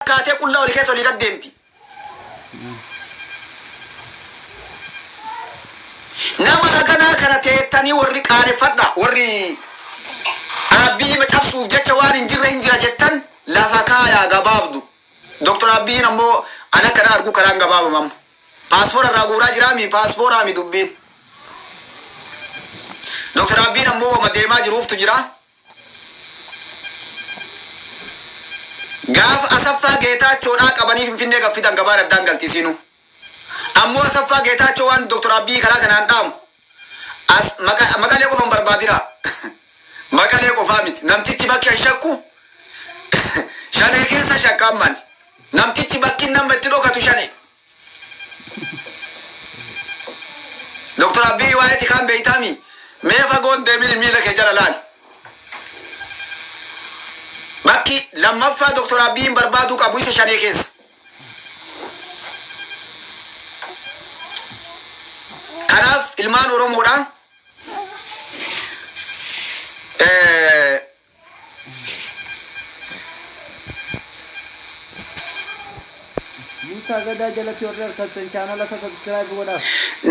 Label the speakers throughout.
Speaker 1: kaatee qullaa olii keessa olii gad deemti. Nama haganaa kana teettanii warri qaaneffadha warri Aabbii hima cabsuuf jecha waan hin jirre hin jira jettan lafa kaayaa gabaabdu. Doktor Aabbiin ammoo an akka na argu karaan gabaabama amma. Paaspoora irraa guuraa jiraami paaspooraami dubbiin. Doktor Aabbiin ammoo wama deemaa jiruuftu jira. Gaafa Asaffaa Geetaachoo dhaa qabanii Finfinnee gad fidan gabaan addaan galti isiinuu. Ammoo Asaffaa Geetaachoo waan Dr. Abiy karaa kanaan dhaamu as Maqalee qofa hin barbaadinaa. Maqalee qofaa miti. Namtichi bakki an shakku Shanee keessa shakka amma ani. Namtichi bakki inni amma itti dhokatu Shanee. Doktar Abbiyi waa'ee tikaan beeytaami? Mee fagoon deemini miila kee jala laali. Bakki lammaffaa Doktar Abbiyiin barbaaduu qabu isa shanee keessa. Kanaaf ilmaan Oromoodha. Eh,
Speaker 2: Muusaa Gadaa jalatti warri argattan chaanala isaa subscribe godhaaf.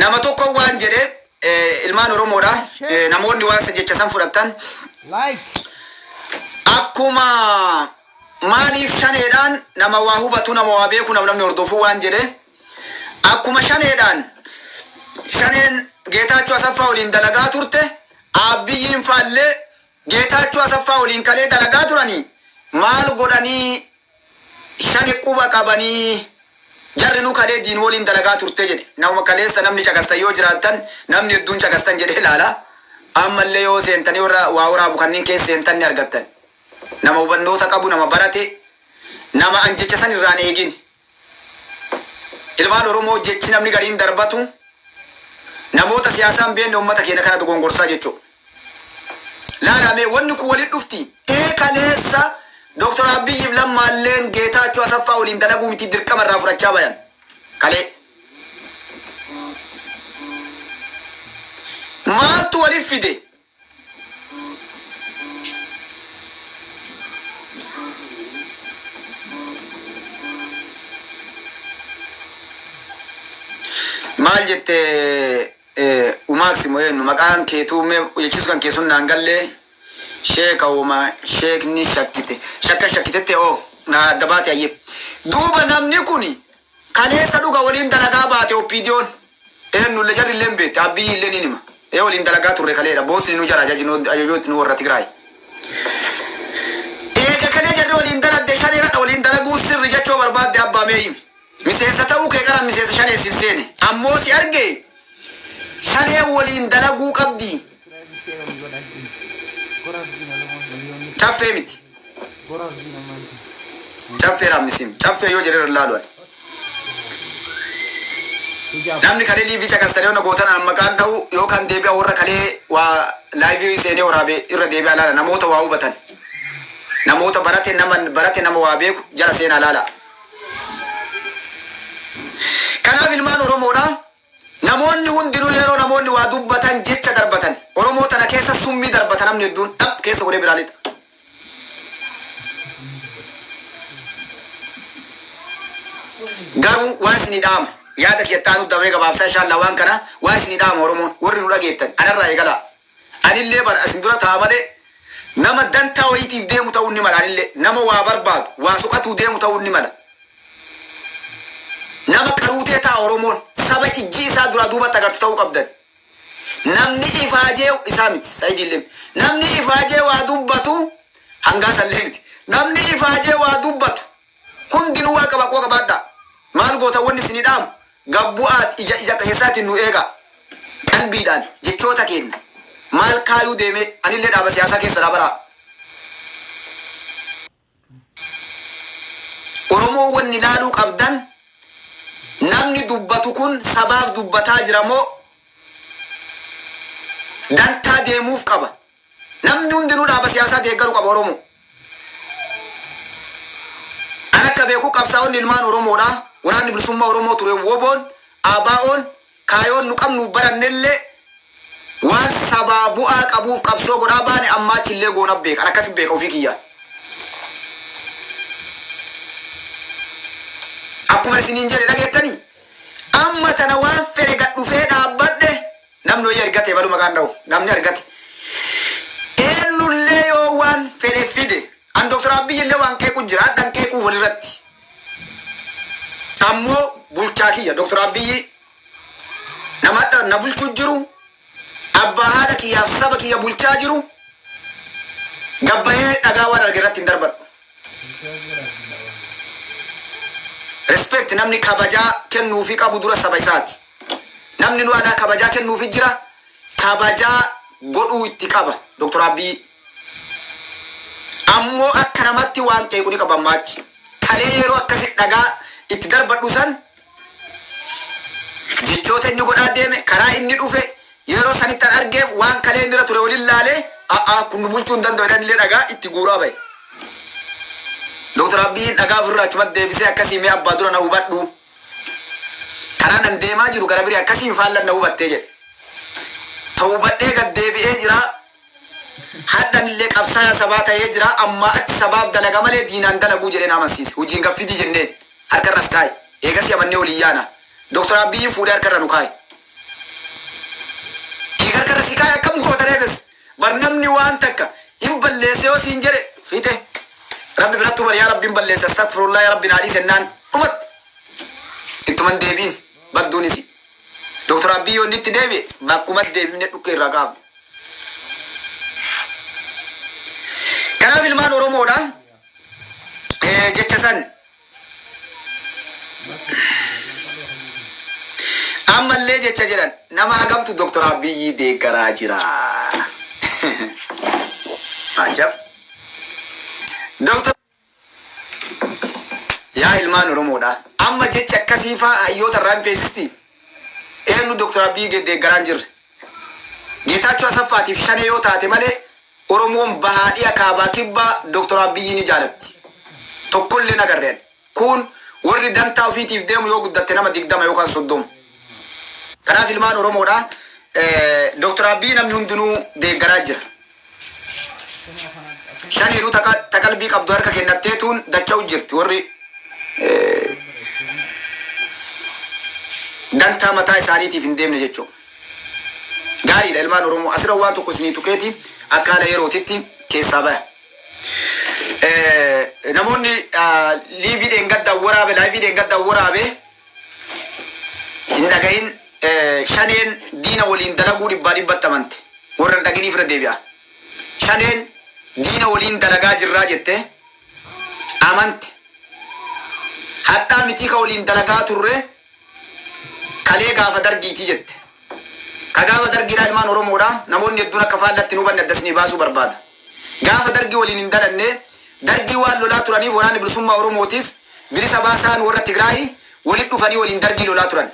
Speaker 2: Nama tokko
Speaker 1: waan jedhe eh, ilmaan Oromoodha. Eh, Namoonni waan isa jecha san fudhattan Like. akkuma maaliif shaneedhaan nama waa hubatu nama waa beeku nama namni hordofu waan jedhe akkuma shaneedhaan shaneen geetaachoo asaffaa waliin dalagaa turte abbiyyiin faallee Geetaachoo Asaffaa waliin kalee dalagaa turani maal godhanii shane quba qabanii jarrinuu kalee diin waliin dalagaa turte jedhe nama kaleessa namni caqastan yoo jiraattan namni hedduun caqastan jedhee ilaala ammallee yoo seentanii warra waa waraabu kanniin keessa seentan ni argattan nama hubannoota qabu nama barate nama an jecha san irraan eegin Ilmaan Oromoo jechi namni gariin darbatu namoota siyaasaa hin beekne uummata keenya kana dogongorsaa jechuudha. Laalaa mee wanni kun walitti dhufti. Ee kaleessa Dr. Abiyyiif Lammaalleen Geetaachoo Asaffaa waliin dalaguu miti dirqama irraa fudhachaa bayan. Kalee. Maaltu walitti fide? maal jette eh, umaaksi moo eenyu maqaan keetuu mee jechisu kan keessun naan gallee sheeka woma sheekni shakkite shakka shakkitetti oo naa adda baate ayyee duuba namni kuni Kaleessa dhuga waliin dalagaa baate OPDOn. Eennulle jarrille hin beetti. Abbiyyiille niin hima. Ee waliin dalagaa turre kaleedha. Boosni nu jala ajajnu ajajootni nu worra Tigraayi. Eega kalee jarri waliin daladde shanee ladha waliin dalaguun sirri jechu yoo barbaadde Abbaa mee himi. Miseensa ta'uu kee qaran miseensa shanee sin seene. Ammoo si argee shaneen waliin dalaguu qabdi. Caffee miti. Caffee dha misim. Caffee yoo jedhe irra laalu ani. Namni kalee liivii caqastan yoo na gootan an maqaan dha'u yoo kan deebi'a warra kalee waa laayivii seenee waraabe irra deebi'a laala namoota waa hubatan. Namoota barate nama barate nama waa beeku jala seenaa laala. Kanaaf ilmaan Oromoodha. Namoonni hundinuu yeroo namoonni waa dubbatan jecha darbatan Oromoo tana keessa summii darbata namni hedduun dhap keessa godhee biraa lixa. Garuu waan isinii dhaamu yaada kiyya itti aanutti dabree gabaabsaa inshaa Allaah waan kana waan isinii dhaamu Oromoon warri nu dhageettan anarraa eegalaa. Anillee bar asin dura ta'a malee nama dantaa wayiitiif deemu ta'uun ni mala anillee nama waa barbaadu waa soqatuu deemu ta'uun ni mala nama qaruutee ta'a oromoon saba ijji isaa duraa duubatti agartu ta'uu qabdan namni ifaajee isaa miti sayidiillee namni ifaajee waa dubbatu hangaa sallee miti namni ifaajee waa dubbatu Hundinuu waan qaba qo qabaadhaa. Maal gootan wanni isinii dhaamu gad bu'aat ija ija keessaatiin nu eegaa. Qalbiidhaan jechoota keenna maal kaayuu deemee anillee dhaaba siyaasaa keessadhaa baraa. Oromoo wanni laaluu qabdan namni dubbatu kun sabaaf dubbataa jira moo dantaa deemuuf qaba? Namni hundinuu dhaaba siyaasaa deeggaru qaba Oromoo. An akka beeku qabsaa'onni ilmaan Oromoodhaa, Waraanni Bilisummaa Oromoo ture WBOn, ABOn, kaayoon nu qabnuuf barannellee waan sabaa bu'aa qabuuf qabsoo godhaa baane ammaa achillee goona beeka. An akkasi beeka ofii kiyyaan. Akkuman isiniin jedhe dhageettanii? Amma tana waan fedhe gad dhufee dhaabbadhe, Namni wayii argate ebalu maqaa hin dhahu. Namni argate eennullee yoo waan fedhe fide an Dr. Abiyyillee waan qeequ jira hadhan qeequu walirratti ammoo bulchaa kiyya Dr. Abiyyii nama hadha na bulchuu jiru abbaa haadha kiyyaaf saba kiyya bulchaa jiru gabbayee dhagaa waan arge irratti hin darbadhu. Respect namni kabajaa kennuufi qabu dura saba isaati. Namni nu alaa kabajaa kennuufi jira kabajaa godhuu itti qaba Dr. Abbiyii. Ammoo akka namatti waan qeequ ni qaba ammaa achi. Kalee yeroo akkasi dhagaa itti darbadhu san Jechoota inni godhaa deeme, karaa inni dhufe, yeroo sanitti an argeef waan kalee inni irra ture waliin laalee, a'a kun nu bulchuu hin danda'u jedhee anillee dhagaa itti guuraa bahe. Dr. Abiyyiin dhagaa ofirraa achumatti deebisee akkasii mee abbaa dura na hubadhu. Karaan an deemaa jiru gara birii akkasiin faallan na hubattee jedhe. Tawbadhee gad deebi'ee jira, Hardhanillee qabsaayaa sabaa tahee jira, ammaa achi sabaaf dalaga malee diinaan dalaguu jedhee na amansiise. Hujii ngaf fidi jenneen, harka irra as kaaye. Eegasii amannee wal hin yaana. Dr. Abbiyyiin fuudhee harka irra nu kaaye. Eega harka irra si kaaye akkam goota ree bes? Bar namni waan takka hin balleesse yoo siin jedhe fixe. Rabbi birattuu bar yaa Rabbi hin balleesse, astagfirullah yaa Rabbi naa dhiisi jennaan dhumatti. Ittuma hin deebi'in. badduun isi. Doktar Abbiy yoo inni itti deebi'e bakkumas deebifne dhukkee irraa kaafna. Kanaaf ilmaan Oromoodha eh, jecha san ammallee jecha jedhan nama hagamtu Doktar Abbiyyii deeggaraa jira. Ajab. Doktar Yaa ilmaan Oromoodhaa! Amma jechi akkasii faa hayyoota irraa hin feesistii? Eennu Dr. Abiy gad deeggaraa hin jirre? Geetaachoo Asaffaa tiif Shanee yoo taate malee Oromoon Bahaa, Dhiha, Kaabaa, Kibbaa Dr. Abiy ni jaalatti. Tokko illee hin agarre ani. Kuun warri dantaa ofii tiif deemu yoo guddatte nama 20 yookaan 30. Kanaaf ilmaan Oromoodhaa Dr. Abiy namni hundinuu deeggaraa jira. Shaniinuu ta qa- ta qalbii qabdu harka kennatteetuun dacha'u jirti. Warri eh, dantaa mataa isaaniitiif hin deemne jechuudha. Gaariidha ilmaan Oromoo. Asirra waan tokko isinii tuqeeti akka haala yerootitti keessaa baya. Eh, Namoonni ah, liivii dheengaddaa waraabe, laayivii dheengaddaa waraabe Hin dhagahin shaneen diina waliin dalaguu dhibbaa dhibbatti amante warra hin dhaginiif irra deebi'aa shaneen diina waliin dalagaa jirraa jette amante hadhaa mitii ka waliin dalagaa turre kalee gaafa dargiitii jette ka gaafa dargiidhaa ilmaan oromoodha namoonni hedduun akka faallatti hin hubanne adda isinii baasuu barbaada. Gaafa Dargii waliin hin dhalanne, Dargii waan lolaa turaniif Waraanni Bilisummaa Oromootiif Bilisa Baasaan warra Tigraayi walitti dhufanii waliin Dargii lolaa turan.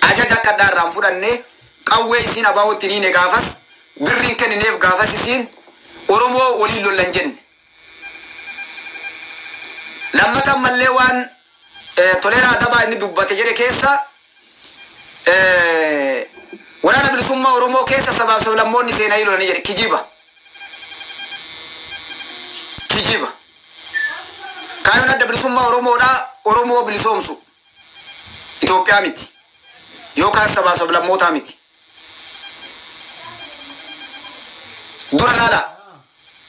Speaker 1: Ajaja akka hadhaa irraa hin fudhanne, qawwee isiin ABOtti hin hiine gaafas, birri hin kennineef gaafas isiin Oromoo waliin lolla hin jenne. Lammata ammallee waan. Toleeraa Adabaa inni dubbate jedhe keessa Waraana Bilisummaa Oromoo keessa sabaaf sablammoonni seenanii lolanii jedhe. Kijiba. Kijiba. Kaayoon Adda Bilisummaa Oromoodhaa Oromoo bilisoomsu. Itoophiyaa miti. Yookaan sabaaf sablammootaa miti. Dura laalaa.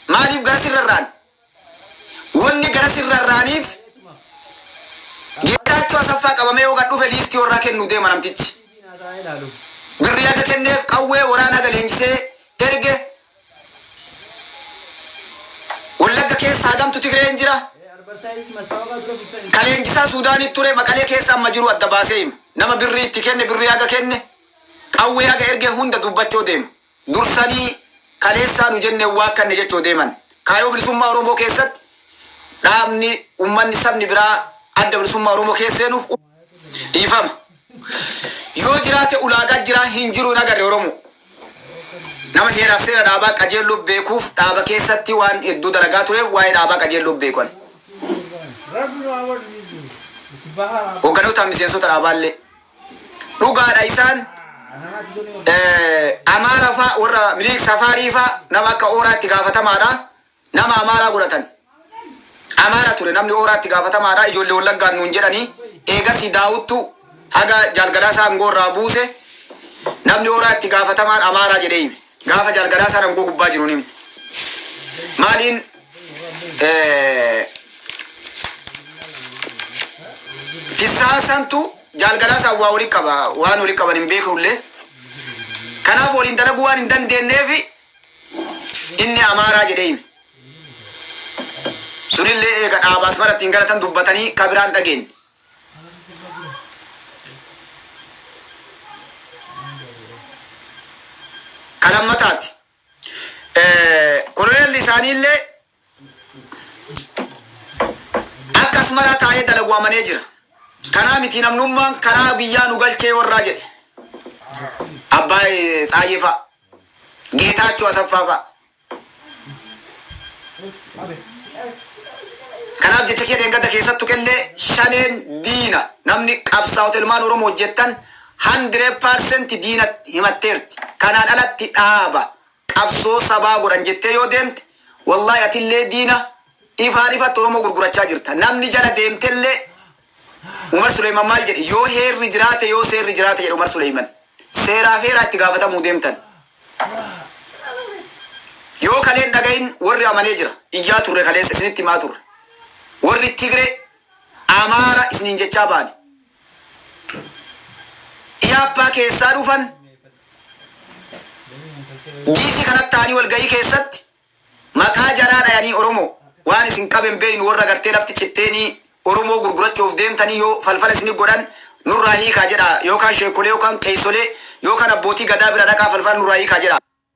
Speaker 1: Maaliif gara sirrarraan? Wanni gara sin rarra'aniif Geetaachoo Asaffaa qabamee yoo gad dhufe liistii warraa kennuuf deema namtichi. Birrii haga kenneef qawwee waraana haga leenjisee erge Wallagga keessa hagamtu Tigreen jira? Ka leenjisaa Suudaanitti ture Maqalee keessa amma jiru adda baasee hima. Nama birrii itti kenne, birrii haga kenne, qawwee haga erge hunda dubbachoo deema. dursanii kaleessaa nu jenne hin waakkanne jechoo deeman. Kaayoo Bilisummaa Oromoo keessatti dhaabni, ummanni, sabni biraa Adda Bilisummaa Oromoo keessa seenuuf u Dhiifama. Yoo jiraate ulaagaan jiraa hin jiru hin agarre Oromoo. Nama heeraaf seera dhaabaa qajeelloo beekuuf dhaaba keessatti waan hedduu dalagaa tureef waa'ee dhaabaa qajeelloo beeku ani. Hogganootaan miseensota dhaabaallee Dhugaadha isaan Amaara faa warra Minilik Safaarii faa nama akka Ooraatti gaafatamaadha. Nama Amaaraa godhatan. Amaara ture namni Ooraatti gaafatamaadha. Ijoollee Wallaggaan nuun jedhanii eegasii daawuttu haga jaalgalaasaa aangoo irraa buuse namni Ooraatti gaafatamaan Amaaraa jedhee hime. Gaafa jaalgalaasaa aangoo gubbaa jiru hime. Maaliin Eh, Fissaan santu jaalgalaa isaan waa waliin qaba waan waliin qaban hin beekullee kanaaf waliin dalaguu waan hin dandeenyeef inni amaaraa jedhee hime. Sunillee eega dhaabaa asmaratti hin galatan dubbatanii kabiraan dhageenye. Kalammataati. Koloneelli isaaniillee akka Asmaraa taa'ee dalagu amanee jira. Kanaa miti namnummaan karaa biyyaa nu galchee warraa jedhe. Abbaa Tsaayyee fa'a, Geetaachoo Asaffaa fa'a. Kanaaf jecha kee dheengadda keessattu qellee shaneen diina namni qabsaa'ota ilmaan Oromoo hojjettan 100% diinatti himatteerti. Kanaan alatti dhaaba qabsoo sabaa godhan jettee yoo deemte wallahi atillee diina ifaan ifatti Oromoo gurgurachaa jirta. Namni jala deemtellee Umar Suleeyman maal jedhe yoo heerri jiraate yoo seerri jiraate jedhe Umar Suleeyman. Seeraaf heeraa itti gaafatamuu deemtan. Yoo kalee hin dhagahin warri amanee jira. Iyyaa turre kaleessa isinitti himaa turre. Warri Tigree Amaara isiniin jechaa baane. Ihaappaa keessaa dhufan DC kanatti taa'anii walgahii keessatti maqaa jaraa dhayanii Oromoo waan isin qabe hin beeknu warra gartee lafti citteenii Oromoo gurgurachuuf deemtanii yoo falfala isini godhan nurraa hiikaa jedhaa yookaan sheekkolee yookaan qeessolee yookaan abbootii gadaa bira dhaqaa falfala nurraa hiikaa jedhaa.